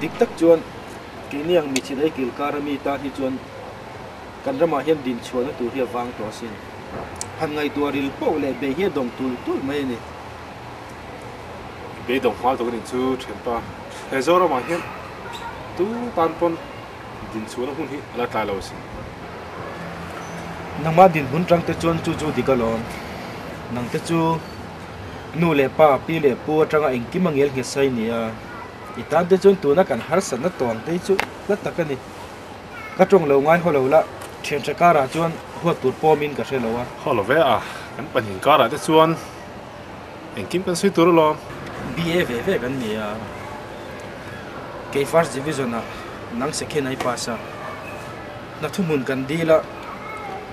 Dik tak chuan keiniang mi chilei kil kar ami tan hi chuan kan ramah hian din chhuahna tur hi a vang tawh asin. Han ngaihtuah a ril poh leh bei hi a dawng tul tul mai a ni. Bei dawng hmal tak a nih chu Ṭhenpa. He Zoramah hian tutan pawn. Dinchhuahna hmun hi a la tlai lo si. Nangmah dinhmun tangte chuan chu chu dik alawm. Nangte chu nu leh pa, pi leh pu atanga engkim a ngel nghesa i nia. I tante chuan tuna kan harsatna tuangte hi chu hla tak a ni. Ka tawng lo ngai haw lo la, thianhre karah chuan huat tur pawmin ka hre lo a. Haw lo ve a, kan pahnih karah te chuan. Engkim kan sawi tur alawm. BA ve ve kan ni a. Kei first division ah nang second a i pass a. Hna thu hmun kan dil a.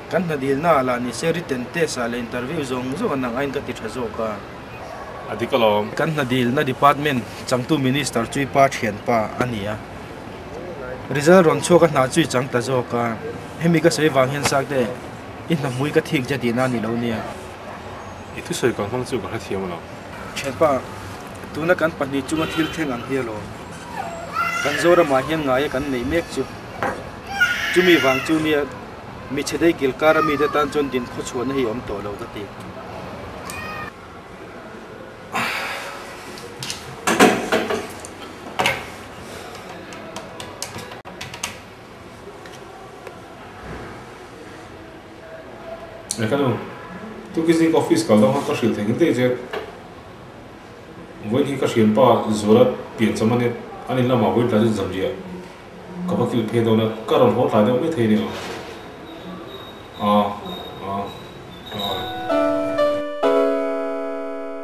Kan hna dil na ah lah ni se written test ah leh interview zawng zawng ah nang aiin ka ti tha zawk a. A dik alawm. Kan hna dil na department changtu minister chu i pa thianpa a ni a. Result rawn chhuak a hna chu i chang ta zawk a. Hemi ka sawi vang hian Sakte, i hna hmui ka thik che tihna a ni lo nia. I thusawi kal hmang chu ka hrethiam a lo. Thianpa, tuna kan pahnih chunga thil thleng ang hi a law. Kan Zoramah hian ngaia kan neih mek chu. Chumi vang chu mi mi chhedei kilkara mite tan chuan din khaw chhuahna hi a awm tawh lo ka ti. Ka nu, Tuki zing ka office kal dang khan ka hrilh thengin daih che. Vawiin hi ka hriampa Zuala pian cham ania, a ni lamah vawiin tlai chu zanriah ka va kil phei dawn a, ka rawn haw tlai deuh methei ania. Aw, aw, aw.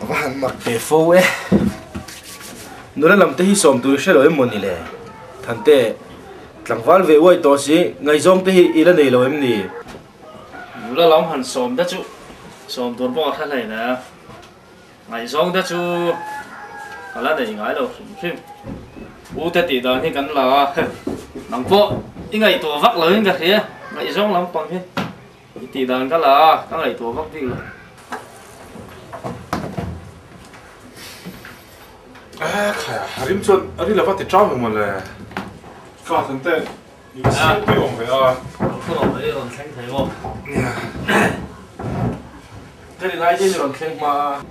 A va han mak ve fo e. Nula lam te hi sawm tur hre lo em maw ni le? Thante, tlangval ve uai tawh si, ngaizawng te hi i la nei lo em ni? Nula lam han sawm ta chu sawm tur pawh a hla hlei hnai a. Ngaihzawngte chu ka la nei ngai lo hrim hrim. Ute tih dan hi kan la a, nang pawh i ngaihtuah vak loin ka hria, ngaihzawng lampang hi i tih dan ka la a, ka ngaihtuah vak bik lo. Khaia a rim chuan a ri lova ti ṭau maw mawle. Ka thante.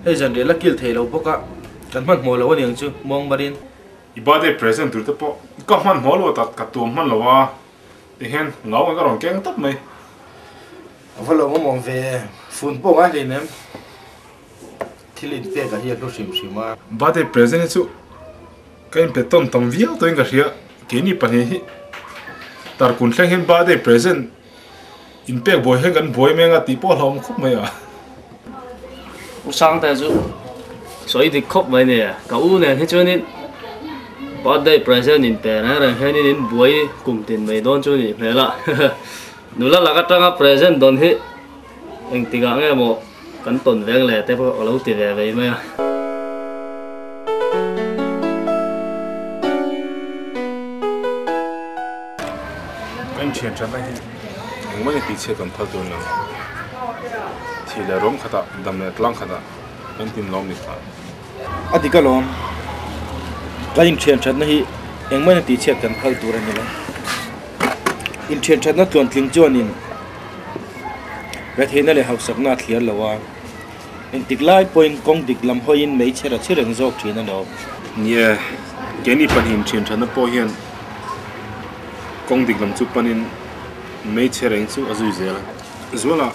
Hei zanriah la kil thei lo bawk a, kan hmanhmawh lo a niang chu muang marin. I birthday present tur te pawh ka hmanhmawh lo ta, ka tuam hman lo a, tihian ngau ang ka rawn keng tawp mai. Ka va lo mamawh ve, fun pawh ngai hleinem. Thil in pek a hi a hlu hrim hrim a. Birthday present hi chu ka in pe tawn tam viau tawhin ka hria, keini pahnih hi tar kun thleng hian birthday present in pek buai hian kan buai em eng a tih pawh a hlauhawm khawp mai a. U Sangte chu sawi dik khawp mai nia, ka u nen hi chuanin birthday present in pe reng reng hian in in buai kum tin mai dawn chu a nih hmel a, nula lak atanga present dawn hi. Eng tikah nge maw kan tawn veng leh te pawh a lo ti ve vei mai a. Kan thianṭha na hi engmahni tihchhiat kan phal tûr lo. Thih leh rawng khatah, dam leh tlâng khatah kan tin lawm ni tla. A dik alawm, kan inthianthatna hi engmahna tihchhiat kan phal tur a ni lo. Inthianthatna tluan tling chuanin retheihna leh hausakna a thliar lo a, engtik lai pawhin kawng dik lam hawiin mei chhera chhi reng zawk thin a ni awm. Ni e, ke ni pahnih inthianthatna pawh hian kawng dik lam chu panin mei chhe reng chu a zui zel a. Zuala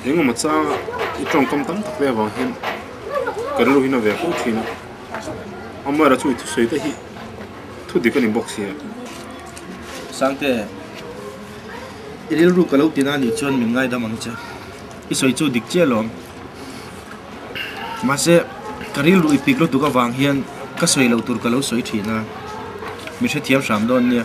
eng emaw chang a i tawngkam tam tak te avang hian ka rilruhin a ve pawh thin a awm erawh chu i thusawi te hi thudik a ni bawk si a Sangte i rilru ka lo ti na nih chuan min ngaidam ang che i sawi chu dik chiah lo ang mahse ka rilru i pik lutuk avang hian ka sawi loh tur ka lo sawi thin a mi hrethiam hram dawn nia.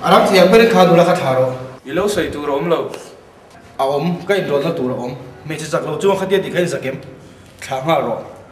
A ram thiam ber i kha nula kha thla rawh. I lo sawi tur a awm lo. A awm, ka inrawlna tur a awm. Hmeichhe chak lo chuan khatia ti kha in zak em? Thlah nghal rawh.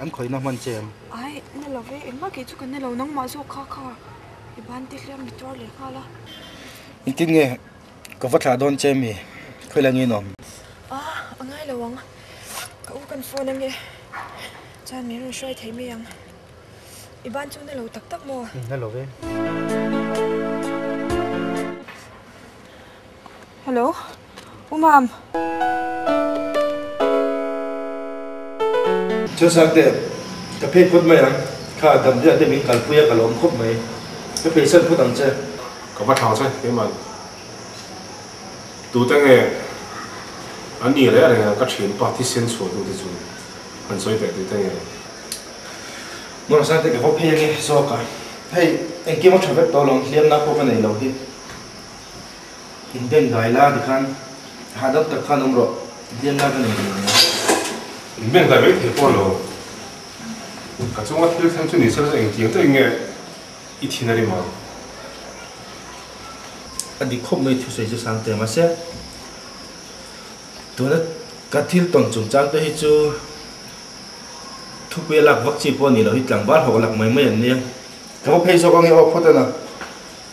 An khawina hman che em? Ai, na lo ve em bakih chu ka na lo, nangmah zawk kha kha i ban ti hliam ni tuar leh nghal a. Engtin nge ka va thlah dawn che mi khawil angin awm? Ah, a ngai lo ang, ka u kan phone ange chuan min rawn hruai thei mai ang. I ban chu na lo tak tak maw? Umm, na lo ve. Hello. Umam. Chhasakte, ka phei phawt mai ang. Kha a dam hial te min kalpui a, ka lawm khawp mai. Ka phei san phawt ang che. Ka va thlang che keiman. Tute nge an ni leh reng ang ka thin pa thisen chhuahtu te chu an sawi teh tute nge. Mawrasangte, ka va phei ange zawk a. Hei, engkim a tha vek tawh lo ang, hliamna pawh ka nei lo hi. in ben kai la ti khan ha deuh tak khan awm rawh hliam lai ka nei ve nia. In ben kai mai thei pawh lo ka chunga thil thlen chu ni se ka chuan engtiang deuhin nge i thin a rim ang. A dik khawp mai thusawi chu sang te mase tuna ka thil tawn chung chang te hi chu thupuia lak vak chi pawh ni lo hi tlangval hawk a lak mai mai an nia. Ka va phei zawk ange aw phawt a na.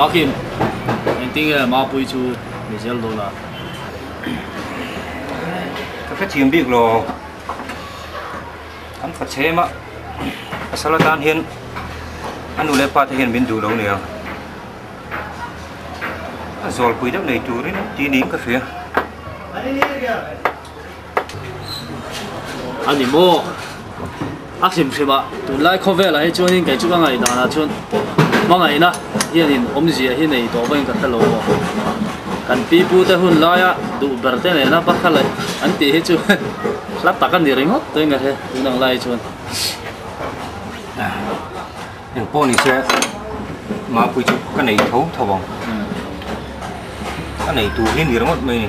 Hakim, eng tin nge Mapui chu mi zel dawn a? Ka hrethiam bik lo. An fa chhema pasal atan hian a nu leh pa te hian min duh lo nia. A zawlpui deuh nei turin ti niin ka hria. a ni maw a hrim hrim a tunlai khawvelah hi chuan in kei chu ka ngaih dan ah chuan hmangaih na hian in awmzia hi nei tawh vawin ka thla lo maw kan pi pu te hun lai a duh ber te nena pa kha leh an tih hi chu hla tak a ni ringawt daih a he tun ang lai hi chuan eng pawh ni se mapui chu ka nei tho tho ang ka nei tur hi ni ringawt mai ni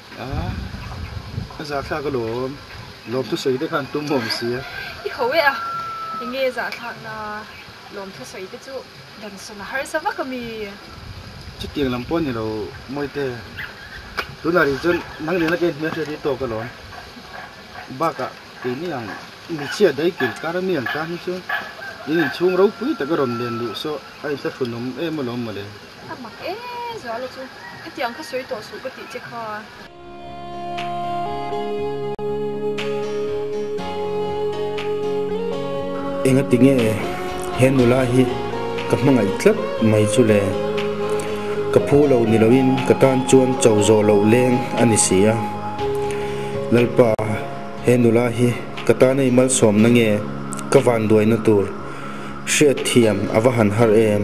Ka zahthlak a lawm. Lawmthusawi te khan tum awm si a. I ho e a, i nge zahthlakna lawmthusawi te chu Dansawn a harsa vak a mi? Chutiang lam pawh a ni lo, Mawite. Tunah ri chuan nang nena ke hmel hriat hi tawk a lawm. Bakah kei ni ang, mi chhia dai kil kar a mi ang tan hi chu in inchhung ropui tak a rawn nen luh saw a inhla thlunawm em a lawm mawle. A mak e zua la chu. Hetiang kha sawi tawh suh ka tih che kha. Enga ti nge he nula hi ka hmangaih tlat mai chu le. Ka phu lo ni lo in ka tan chuan cho zawh loh leng a ni si a. Lalpa he nula hi ka tan a imalsawm na nge ka vanduai na tur hriat thiam a va han har em.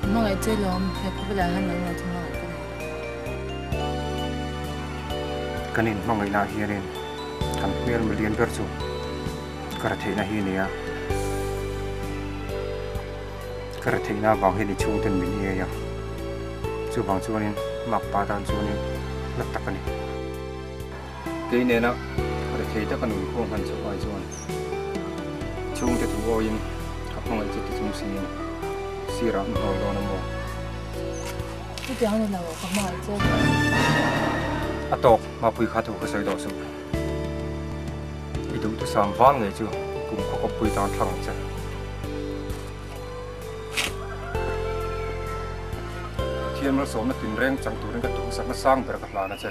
Hmangaih che lawm, he khawpui lah hian lo ngaih thung a, ka nih. Kan in hmangaih lah hianin kan hmel ma lian ber chu ka hre theihna hi a ni a, ka hre theihna vang hian i chhung ten min i ei a, chuvang chuanin Makpa tan chuanin la tak a ni. Kei nena ri thei taka nun khuang hman chauh ai chuan chhungte thu awiin a hmangaih chu tichhung simin sirah mi haw dawn a maw? Chutiang ni lo, ka hmangaih che ve a. A tawk mapui kha thu ka sawi dawn suh. I duhtu sam vang ngei chu kum khaw kawppui tan thlang ang che. Pathian malsawmna tinreng chang turin ka duhsakna sang ber ka hlan a che.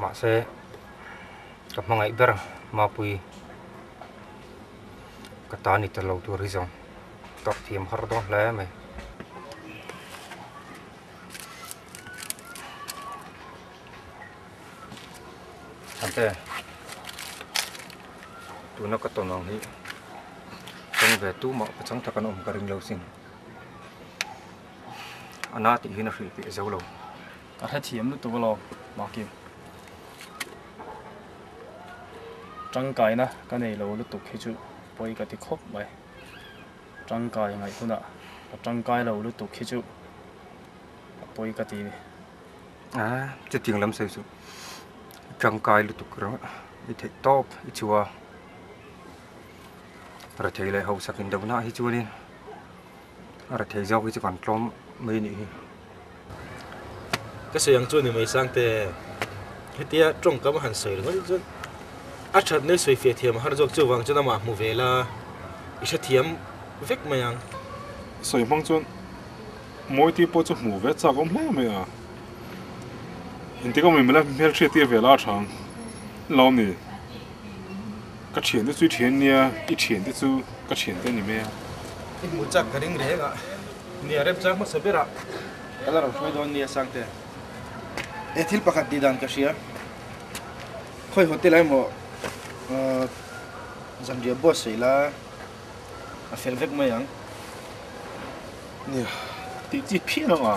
mahse ka hmangaih ber mapui ka ta ni tel lo tur hi zawng ka fiam har dawn hle mai. Ante tuna ka tawn ang hi kawng ve tumah ka chang takan awm ka ring lo sin a na tih hi na hrilh piah zo lo. Ka hrethiam lutuk a lo mahki. Tangkaina ka nei lo lutuk hi chu pawi ka ti khawp mai. Tangkai ngaih hunah ka tangkai lo lutuk hi chu a pawi ka ti ni. Ah, chutiang lam sawi suh. I tangkai lutuk reng a, i theih tawp i chua. Rethei leh hausakin dohnah hi chuanin A ra thei zawk hi chu kan tlawm mai a nih hi. Ka sawi ang chu a ni mai Sangte. Hetia tawngkam a han sawi ringawt hi chuan a that nai sawi fiah thiam a har zawk chuvang chuan amah a hmu vel a, i hrethiam vek mai ang. Sawi hmang chuan mawite pawh chu hmuh ve chak a awm hle mai a. Engtikah a awm in mela hmelhriat tirvel a a tha ang lo a ni. Ka thian te chu i thian nia, i thian te chu ka thian te ni maia. I hmuh chak ka ring reng a, ni a rep chang hmasa ber a, ka la rawn hruai dawn nia Sangte. E thil pakhat tih dan ka hria, khawi haw te lai maw uh, zanriah buat sawi la a fel vek mai ang nia. Tih chi phian ang a,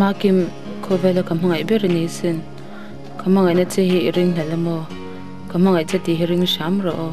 Maa Kim, Khawvela ka hmangaih ber a ni sin. Ka hmangaihna che hi i ring hnalh emaw? Ka hmangaih che tih hi ring hram rawh aw.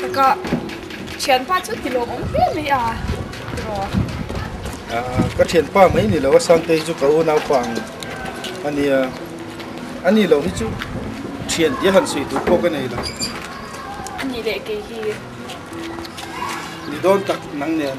Takah thianpa chu ti lawm awm hle mai a, rawh. Ka thianpa mai ni lo a, Sangtei chu ka unaupa ang a nia. A ni lo hi chu thian tih a han sawi tur pawh ka nei lo. A ni leh kei hi. Ni dawn tak nang nen.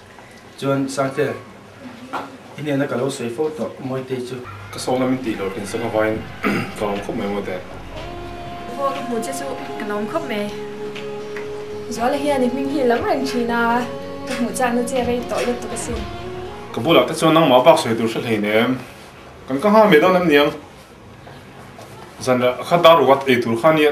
Chuan Sangte, i nena ka lo sawi fo tawh, Mawitei chu. Ka sawng lam in tih lawkin sawng a vaiin, Ka awm khawp mai Mawite. I pawh ka hmuh che chu ka lo awm khawp mai. Zuala hian i hming hi lam reng thin a, ka hmuh chang na che rei tawh let tuk a sin. Ka bu lah te chuan nangmah bak sawi tur hre hlein em? Kan ka nghal mai dawn em niang? Zanrah kha dar ruat ei tur kha nia.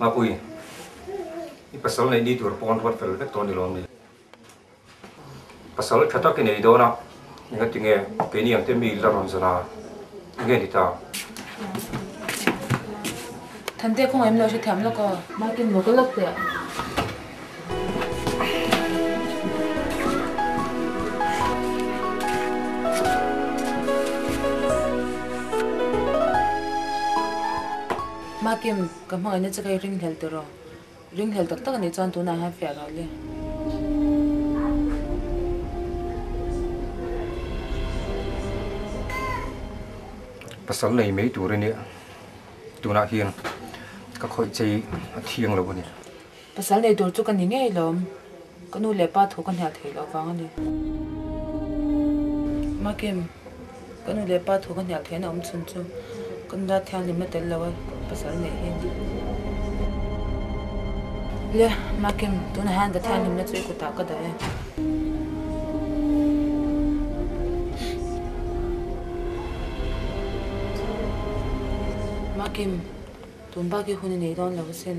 Mapui, i pasal neih ni tur pawn ruat fel vek tawh ni lawm ni? Pasal tha tak i nei dawn a, engatinge keini ang te mi la rawn zan a? I ngen i ta. Thante kawngah em lo hre thiam lawk aw. Martin lo kal lawk teh. Makim, ka hmangaih na che ka i ringhlel teh rawh. Ringhlel tak tak a nih chuan tunah hian fiah rawh le. Pasal nei mai tur a nia, tunah hian ka khawih che hi a thiang lo a ni. Pasal nei tur chu ka ni ngei lo. Ka nu leh pa thu ka hniah theih loh vang a ni. Makim, Ka nu leh pa thu ka hnial theihna awm chhun chu ka nula thianghlim la tel lo a, pasal nei hi a ni. Le, Makim, tunah hian ka thianghlimna chu i kut ah ka dah e. Makim, Tun bak hi hun a nei dawn lo asin.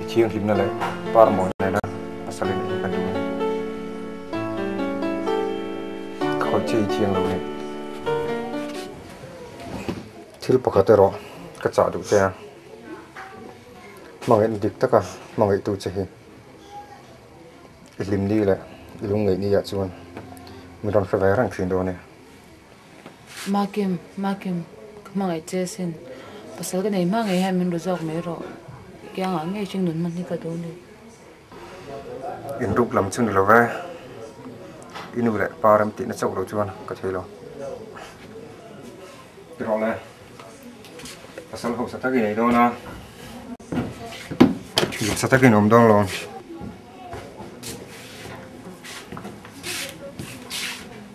I thianghlimna leh par mawi nena pasal in eng ka duh ang? Ka khaw che i thiang lo nen. Thil pakhat erawh ka chah duh che a, hmangaih dik taka hmangaihtu che hi i hlimni leh i lungngeihni ah chuan min rawn hre ve reng thin dawn e. Makim, Makim, ka hmangaih che asin. Pasal ka nei hmangaih hian min ru zawk mai rawh. Kiangah ngei chu nun hman hi ka duh ni. In ruk lam chu ni lo ve. I nu leh pa rem tihna chauh lo chuan ka thei lo. Erawh le, pasal hausa tak i nei dawn a. Hausa tak in awm dawn lo.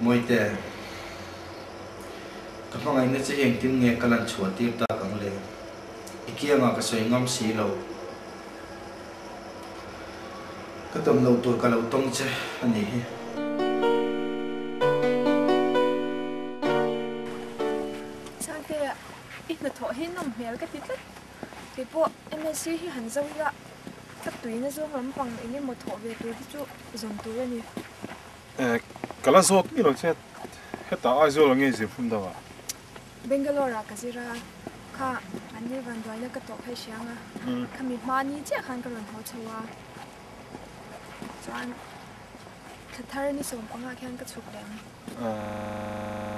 Mawite, ka hmangaih nge che hi engtin nge ka lan chhuah tir tak ang le? I kiangah ka sawi ngam si lo. Ka ton lo tur ka lo tawng che a nih hi. Changtea, i hnathawh hi nawm hmel ka ti tlat. Keipawh MAC hi han zo ila, tlak tuin a zawng lampang engemaw thawh ve tur hi chu zawng tur a ni. Eh, ka la zawt ngei lo che. Hetah Aizawl a ngei zir phun dang ah. Bangalore-ah ka zir a, kha an lirvan duaina ka tawh phei hria nga. Kha mi hma ni chiah khan ka rawn haw chho a. Chuan thlathar ni sawm panga khian ka chhuk lem.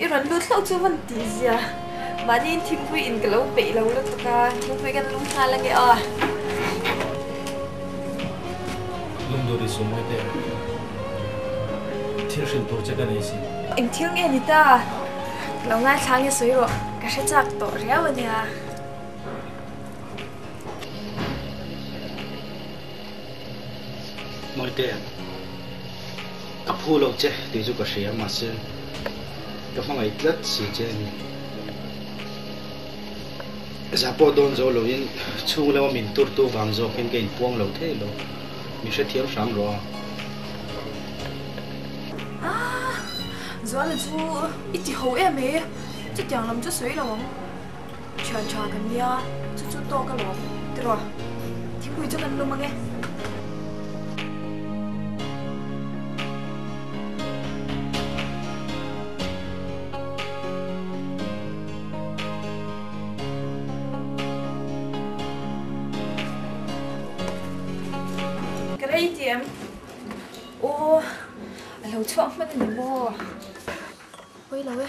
I rawn lut hlauh chu hman tih zia. Mahniin thingpui in ka lo peih lo lutuk a, thingpui kan lung nghal a nia. Lung dur i sum ngate ang. Thil hrilh tur che ka nei si. Eng thil nge ni ta? Ka lo ngaithlang i sawi rawh. Ka hre chak tawh riau a nia. Mawite, ka phu lo che tih chu ka hria, mahse, ka hmangaih tlat si che a ni. Za pawh dawn zo loin chhung lama min turtu vang zawkin ka inpuang lo thei lo. Mi hrethiam hram rawh a. A, Zuala chu i tiho em e, chutiang lam chu sawi lo ang. Thian tha ka nia, chu chu tawk a lawm tirh a, thingpui chu kan lum ang e. Ka rei ti em? Aw, a lo chhuak hman a ni maw? Pawi lo e.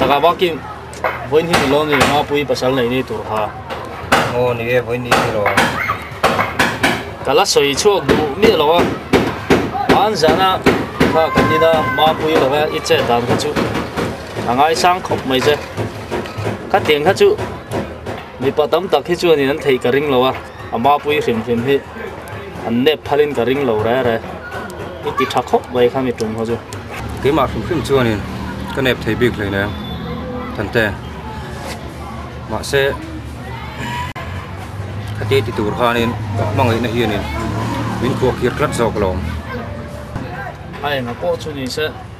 Taka bakin voin hi lo ni ma pui pasal nei ni tur ha. Ngo ni e voin ni lo. Kala soi chuak du mi lo a. An zana ka kanina ma pui lo ha i che dan ka chu. a ngai sang khawp mai se khatiang kha chu mipa tam tak hi chuan an thei ka ring lo a a mapui hrim hrim hi an nep phalin ka ring lo re re i ti tha khawp mai kha mi tum ho chu keimah hrim hrim chuan in ka nep thei bik hlei nen kan te mahse khati ti tur khan in mangai na hian in min khuak hir tlat zawk lo a enga pawh chu ni se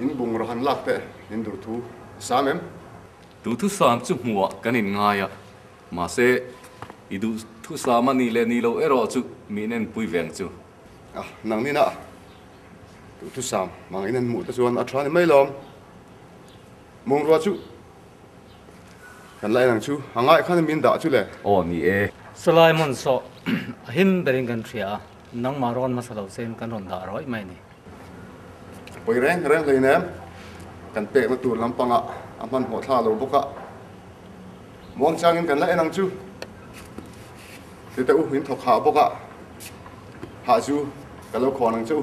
In bungraw han lak teh in durthu i sam em? Duhthusam chu hmuhah kan in ngai a, mahse i duhthusam a nih leh nih lo erawh chu miin en pui veng chu. A, nang nina duhthusam hmang in an hmuh te chuan a tha ni mai lawm. Mungrua chu kan la en ang chu, a ngaih khan miin dah chu le. Aw ni e. Sawlai hmun sawh a him berin kan hria a. Nangmah rawn hmasa lo chen kan rawn dah ruai mai ni. Pawi reng reng hlei nen kan pekna tur lampangah a hmanhmawh thla lo bawk a, Muangchangin kan la en ang chu, Tete U in thawk hah bawkah hah chu ka lo khawn ang che u.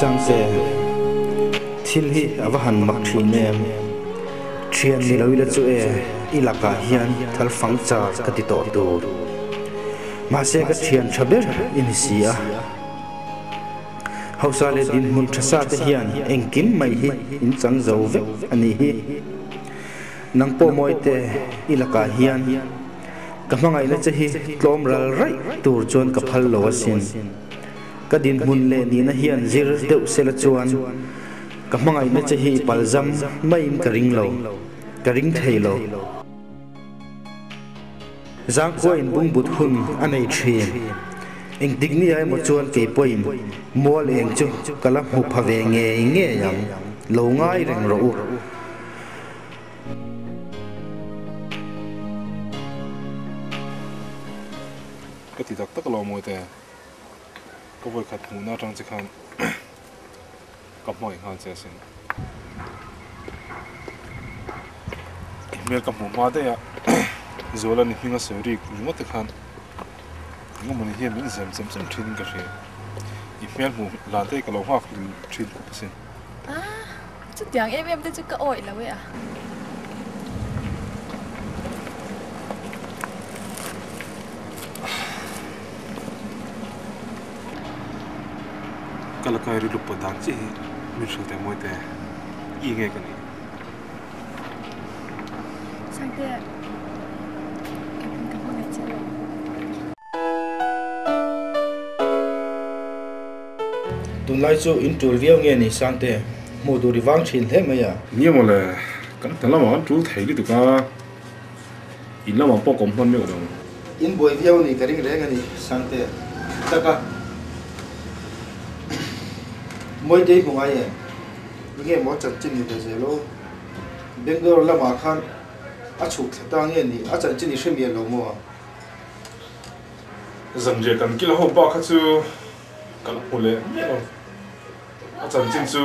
Siangte, thil hi a va han mak thin em? Thian ni lo ila chu e, i lakah hian thalfang char ka ti tawh tur. Mahse ka thian tha ber i ni si a. Hausa leh dinhmun tha sa te hian engkim mai hi in chang zo vek a nih hi. Nang pawh mawi teh i lakah hian ka hmangaihna che hi tlawm ral raih tur chuan ka phal lo a sin. Ka dinhmun leh nihna hian zir deuh se la chuan ka hmangaihna che hi i palzam maiin ka ring lo, ka ring thei lo. Zangkhua in bungbut hun a nei thin. Engtik nia emaw chuan kei pawhin mual eng chu ka la hmu pha ve ngei ngei ang, lo ngai reng rawh u. Ka ti tak tak lo maw te, ka vawikhat hmuhna atang che khan. ka hmawih nghal che asin. I hmel ka hmuh hma daih a, Zuala ni hminga sawi rik ringawte khan engemawni hian min zem chem chem thin in ka hria. I hmel hmuh hlan te hi ka lo nghak hlil thin khup asin. Aah, chutiang em em te chu ka awih lo e a. Ka la kai ri lup pawt dan chiah hi hming hrilh te mawi te i nge ka nih. Chhangte ah in ka hmu leh che lo. Tunlai chu in tul viau nge ni Sangte, hmuh tur i vang thin hle mai a. Nia mawle, kan hna lamah kan tul thei lutuk a. In lamah pawh kawm hman meuh lo. In buai viau ni ka ring reng a ni Sangtea taka Mawitei hmungai em? I nge maw chanchin ni ve zel aw? Bangalore lamah khan a chhuk thla ta nge ni? A chanchin i hremial lo maw ang? Zanriah kan kil a ho pa kha chu ka la hmu leh miah lo. A chanchin chu.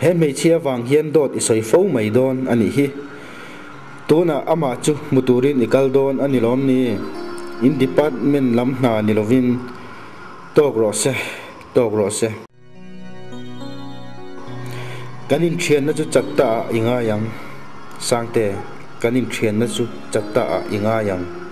He hmeichhia vang hian dawt i sawi fo mai dawn a nih hi. Tunah amah chu hmu turin i kal dawn a ni lawm ni? In department lam hna ni lovin tawk rawh se, tawk rawh se. Kan inthianna chu chat ta ah i ngai ang. Sangte, kan inthianna chu chat ta ah i ngai ang.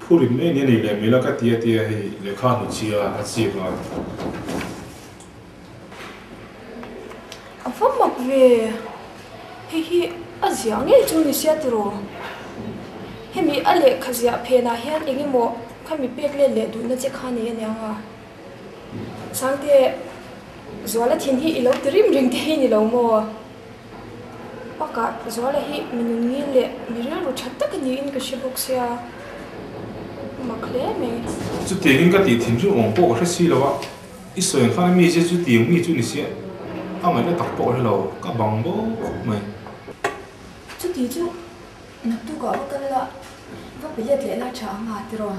Phu rin mai nia nei leh hmel a ka ti atia hei lehkha hnuchhia a chip a. A va mak ve. Hei hi a ziah ngei chu ni sia tiraw? Hemi a lehkha ziah phenah hian eng emaw kha mi pek let leh duhna che kha nei aniang a. Sangte, Zuala thin hi i lo ti rim rim te hi ni lo maw? Baka zuala hi mi nunngil leh mi rilru that tak a niin ka hre bawk sia, ka mak hle mai. Chutiang in ka tih thim chu awng pawh ka hre si lo a, i sawi ang khan a mi zia chu tiang mi chu ni sia, a ngaih la tak pawh hre lo, ka bang bawk bawk mai. Chutih chu naktuk ah va kal la, va pe let leh lai tha ang a ti rawh.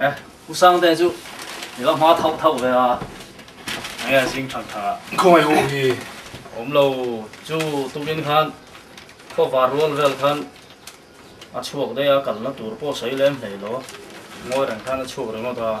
Eh, u Sangte chu i va hma thauh thauh ve a, enge a zing thang thang a. Khawngaih u hi awm lo, chu tukin khan khawvar rual vel khan a chhuak daih a, kalna tur pawh sawi lem hleilo, Ngawi reng khan a chhuak ringawt a.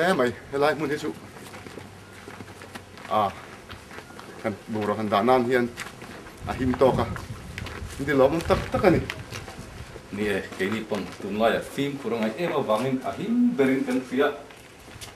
hle mai helai hmun hi chu a kan bura han dah nan hian a him tawk a ni lawm tak tak a ni ni e keini pawn tunlai a fim khur a ngai em avangin a him berin kan hria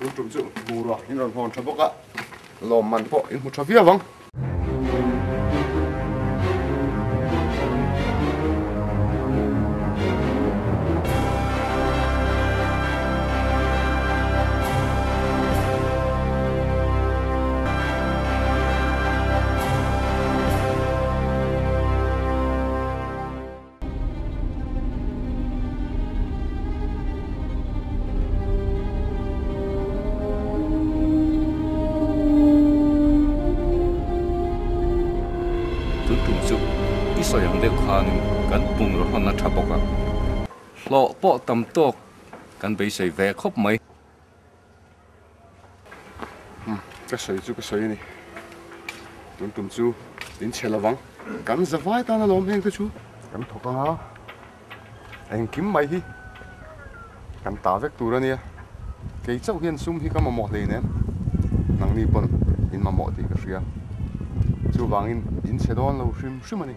Ru tum chu bura in rawn hawn tha bawk a, lawm man pawh in hmu tha viau ang. Tun tum chu i sawi ang deuh khanin kan bungraw hlan a tha bawk a, hlawh pawh tam tawk kan beisei ve khawp mai. Ka sawi chu ka sawi a ni, tun tum chu in chhe lo vang. Kan za vai tan a lawm heng te chu kan thawk anga, engkim mai hi kan tah vek tur a nia. Kei chauh hian sum hi ka mamawh hlei nem, nangni pawn in mamawh tih ka hria. Chuvangin in chhe dawn lo hrim hrim a ni.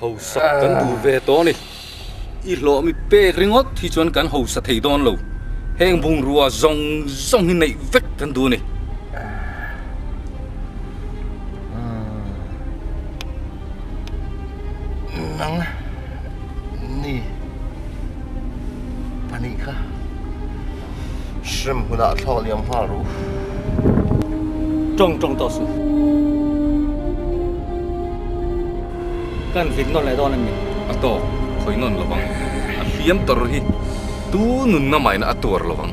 Hausa kan duh ve tawh ni. I hlawh mi pek ringawt hi chuan kan hausa thei dawn lo. Heng bungrua zawng zawng hi neih vek kan duh ni. Nang ni pahnih kha. Shrimp huna thlak liam nghal ru. Trong trong tawh su. Kan vik nawn leh dawn anih? A tawk khawih nawn lo vang. A hliam tawrh hi tu nunna maina a tuar lo vang.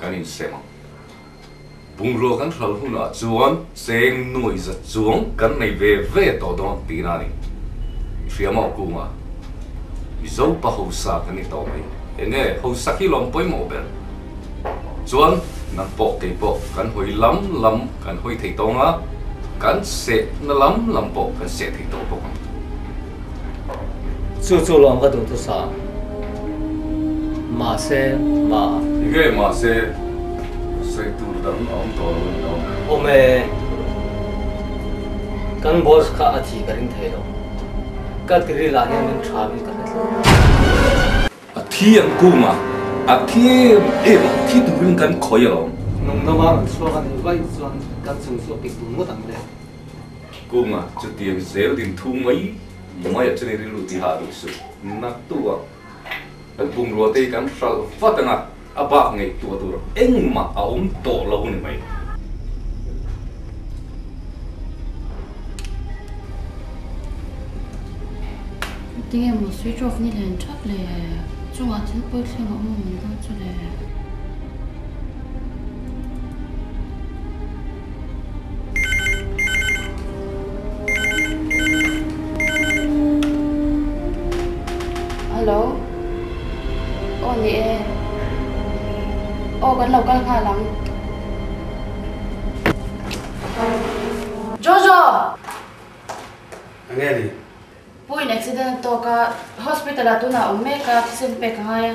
kan insem ang. Bungrua kan hlal hunah chuan cheng nuai zat chuang kan nei ve ve tawh dawn tihna a ni. Hriamau kunga Mizo pa hausa kan ni tawh mai. Enge hausa khi lawm pawimawh ber chuan nan pawh kei pawh kan hawi lam lam kan hawi thei tawng a, kan sehna lam lam pawh kan seh thei tawh bawk ang. Chu chu lo ang ka duh tu sa. Mahse mah. Engge mahse sawi tur dang a awm tawh lo ni lo. Awm e. Kan boss kha a thi ka ring thei lo. Ka ti ri lah hian min tha min ka hre thung. A thiam kung a, a thiam em ang, thi turin kan khawi alawm. Nung dova rawn chhuak a nih vaih chuan kan chung chu a pik bul ngawt ang le. Kung a, chutiang zel din thu mai maiah chuan i rilru ti hah duh suh. Na tuah, kan bungrua te hi kan hralh vat ang a. A bak ngaihtuah tur engmah a awm tawh lo ni mai. Enge emaw switch off ni hlen thap le. Chungah thil pawi thleng a awm ang deuh chu le. Hello aw ni e aw kan lo kal nghal ang Jojo enge ni Puiin accident a tawk a hospital ah tunah a awm mek a thisen pek a ngai a.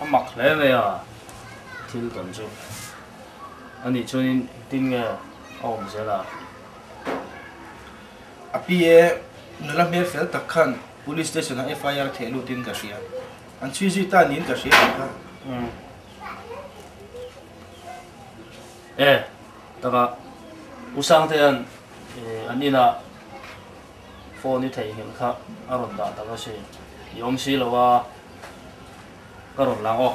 a mak hle mai a thil tawn chu anih chuanin tin nge a awm zel a a pi e nula hmel fel tak khan police station ah FIR theh lut in ka hria an chhui zui ta niin ka hria tawh kha e taka u sangte hian an inah Phone i theihngilh kha a rawn dah tak a si. I awm si lo a, ka rawn lang aw.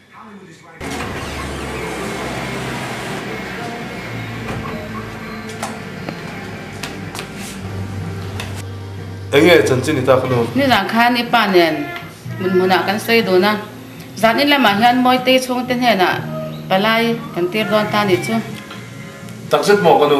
Eng nge chan chin i ta kha nuam? Nizan khan i pa nen hmun hmun ah kan sawi dun a, zan in lam ah hian Mawitei chhung te hnen ah palai kan tir dawn ta ni chu. Takzet maw ka nu?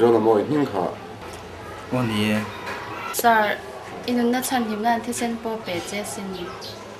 Zuala mawi hming kha. Aw ni e. Sir, i nunna thlan hlimna an thisen pawh pe che a sin.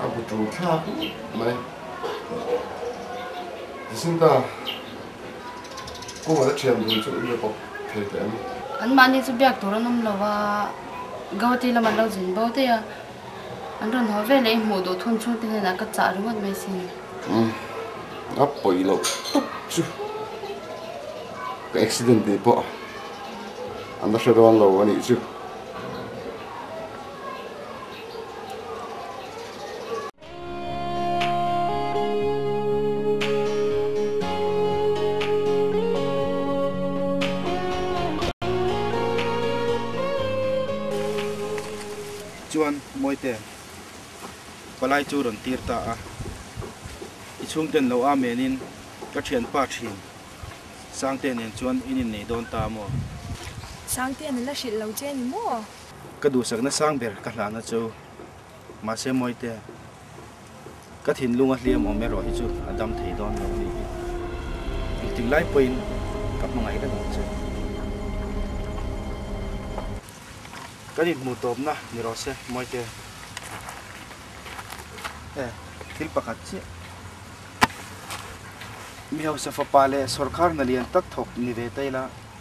A bu ṭo thla put mai. Tisin ta kungah la ṭhiam dun chu ria bawk thei teh an. Anmahni chu biak tur an awm lo a, Gawti lam an lo zin bo daih a, an rawn haw veleh i hmuh duh thun chhungte hnenah ka chah ringawt mai si ni. Umm, a pawi loh tuk chu ka accident tih pawh an la hre dawn lo a nih chu. Chuan Mawite, palai chu rawn tir ta a, i chhungten lo amen in ka thianpa thin Sangtea nen chuan in inneih dawn ta maw? Sangtea na la hrilh lo che ni maw? Ka duhsakna sang ber ka hlan a chu, mahse Mawite, ka thinlung a hliam awm erawh hi chu a dam thei dawn lo anih hi. Engtin lai pawhin ka hmangaih ka duh che. Kan inhmuh tawpna ni rawh se Mawite. E, thil pakhat chiah. Mi hausa fapa leh sorkarna lian tak thawk ni ve ta ila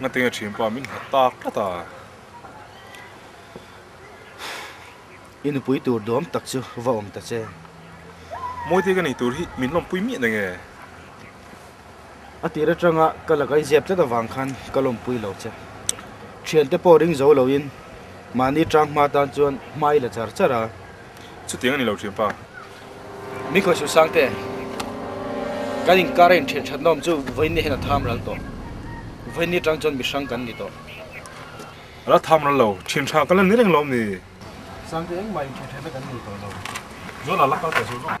Ngatenga ṭhin pawh a min nghat tak tlat a. I nupui tur duam tak chu va awm ta che. Mawi te ka nei tur hi min lawmpui miah nge. A tîr aṭanga ka la kaiziap tlat avâng khân ka lawmpui lo che. Ṭhiante pawh ring zo loin mahni ṭâng hma tân chuan hma i la char char a. Chutiang a ni lo Ṭhiampa. Min kawihsu Sangte, kan inkâra inthian ṭhatnawm chu vawinia hian a tham ral tawh. Vawinia ṭâng chuan mihrâng kan ni tawh. A la tham ral lo. Ṭhianṭha kan la ni reng lawm ni. Sangte engmah inthian ṭhatna kan nei tawh lo. Zawlah a la kal ta zawk zawk.